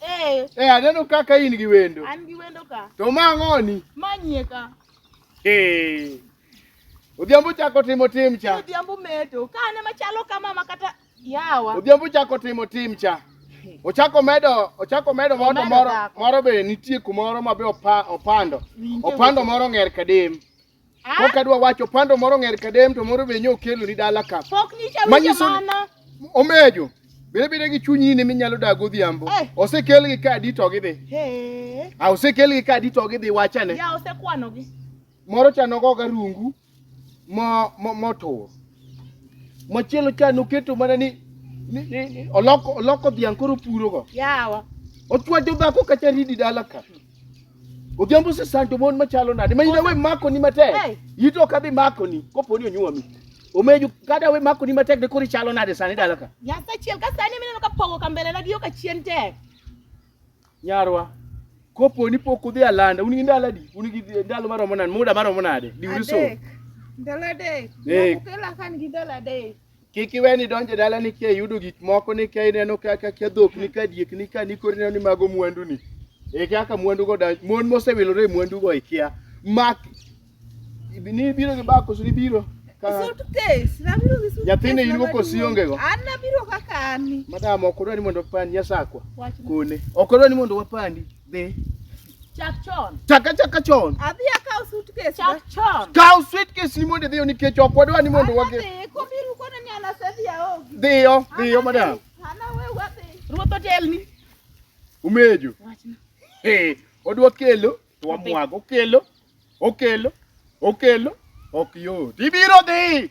Eh. Eh, aneno kaka in gi wendo. An gi wendo ka. To ma ng'oni? Ma nyie ka. Eh. Odhiambo chako timo tim cha. Odhiambo meto. Ka ane machalo kama ma kata yawa. Odhiambo chako timo tim cha. Ochako medo, ochako medo moto moro, moro be nitie kumoro ma be opando. Opando moro ng'er kadem. Pok adwa wacho pando moro ng'er kadem to moro be nyo kelo ni dala ka. Pok nyicha winjo mano. Omejo. Bende bende gi chunyi ni minyalo dag odhiambo. Eh. Osekel gi kadi to gidhi. Eh. A osekel gi kadi to gidhi wachane. Ya osekwano gi. Moro chano go ga rungu mo mo motur. Machielo chano keto mana ni ni, ni oloko oloko dhiang' koro puro go. Yawa. Ochwajo dhako kacha ridi dala ka. Odhiambo se sando mon machalo nade? Ma inawe mako ni matek. Hey. Yito ka bi mako ni kopo ni onyuomi. Omeju kada we mako ni matek de kori chalo nade sani dala ka. Nyasa chiel ka sani mineno ka pogo ka mbele na giyo ka chien tek. Nyarwa. Kopo ni pok udhi alanda, un gi ndalo adi? Un gi ndalo maromo nade? Muda maromo nade? Diuri so. Ndalo adek. Hey. Kukela kan gi ndalo adek. Kik iwe ni donjo e dalani kia yudo gik moko ni kia ineno kaka kia dhok ni ka diek ni ka ni koro ineno ni mago mwandu ni. E kaka mwandu go da mon mosewilore e mwandu go ikia. Mak ni biro gi bako ni biro. Ka Suitcase, nabiro gi suitcase. Nyathini in go kosi maduong'. onge go? An nabiro kaka an ni. madam ok odwa ni mondo opandi nyasakwa. Wachna. Kone. Ok odwa ni mondo wapandi. Dhi. Chak chon. Chak achaka chon. Adhi akaw suitcase. Chak chon. Kaw suitcase ni mondo idhiyo nikech ok wadwa ni mondo wage. Adhi, kobiru kone ni an asedhi aogi. Dhiyo, dhiyo madam. An awe wadhi. Ruoth otelni. Umejo. Wachna. Eh, odwa kelo to wamwago, okelo, okelo, okelo, ok yot. Ibiro dhi.